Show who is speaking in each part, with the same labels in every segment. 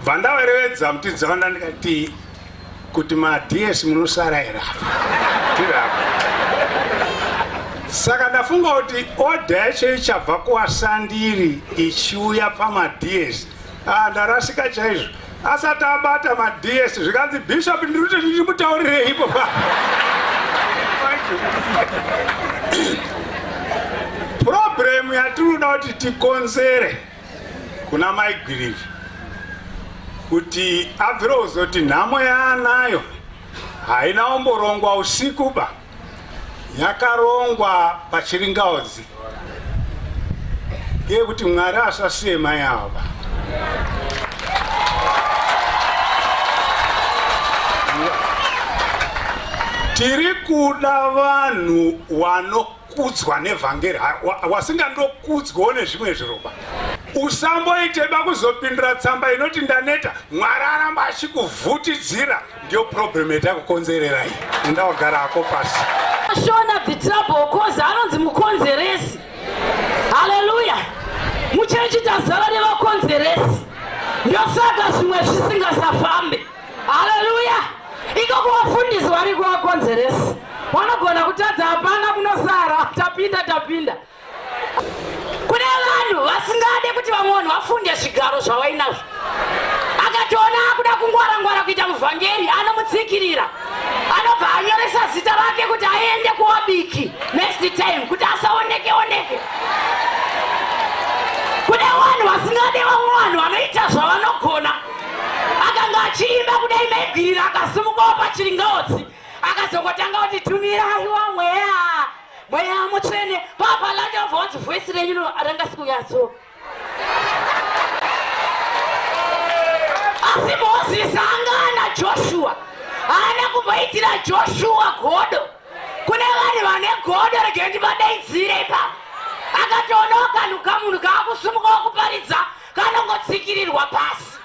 Speaker 1: Vandaverevedza kuti dzavanda ndikati kuti maDS munosara era. Tirapa. Saka ndafunga kuti order yacho ichabva kuwasandiri ichiuya pamaDS. Ah ndarasika chaizvo. Asati abata maDS zvikanzi bishop ndiri kuti ndimutaurirei ipo pa. Problem yatinoda kuti tikonzere kuna mai gwiriri kuti abvire kuzoti nhamo yaanayo haina omborongwa usiku ba yakarongwa pachiringaodzi ngeyekuti mwari asasiye mai avo ba tiri kuda vanhu wano kudzwa nevhangeri wasingandokudzwawo nezvimwe zviroba usamboiteba kuzopindura tsamba inoti ndaneta mwari aramba achikuvhutidzira ndiyo problem etakukonzerera iyi enda wagara hako pasi shona the trouble cause anonzi mukonzeresi haleluya muchechi tazara nevakonzeresi ndosaka zvimwe zvisingasafambe haleluya iko kuvafundisi vari kuvakonzeresi vanogona kutadza hapana kunosara tapinda tapinda kune vanhu vasingade kuti vamwe vanhu vafunde zvigaro zvavainazvo akatoona akuda kungwara ngwara kuita muvhangeri anomutsikirira anobva anyoresa zita rake kuti aende kuwabiki next time kuti asaoneke oneke kune vanhu vasingade vamwe vanhu vanoita zvavanogona akanga achiimba kudai maigwirira akasimukawo pachiringaotsi akazongotanga kuti tumirayiwa mweya mweya mutsvene papalachanva wanzi voisi renyu ranga sikunyatso asi mozisi anga ana joshua haana kumboitira joshua godo kune vanhu vane godo regendi vadaidzire ipa akatoonawo kanhu kamunhu kaakusumukawo kuparidza kanongotsikirirwa pasi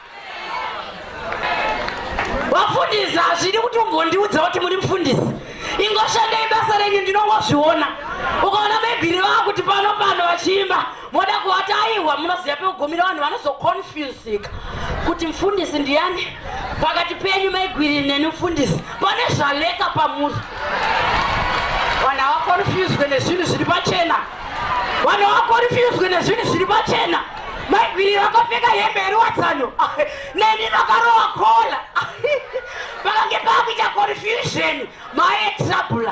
Speaker 1: vafundisi hazvidi kuti umbondiudza kuti muri mufundisi ingoshandei basa renyu ndinongozviona ukaona mebhiri vava kuti pano pano vachiimba moda kuvati aiwa munoziva pekugumira vanhu vanozoconfusika kuti mufundisi ndiyani pakati penyu maigwiri neni mufundisi pane zvaleka pamuri vanhu havaconfuswe nezvinhu zviri pachena vanhu vakorifuswe nezvinhu zviri pachena maigwiri vakapfeka hembe yeruwadzano neni vakarowa kola vakange paakuita confusion maye trouble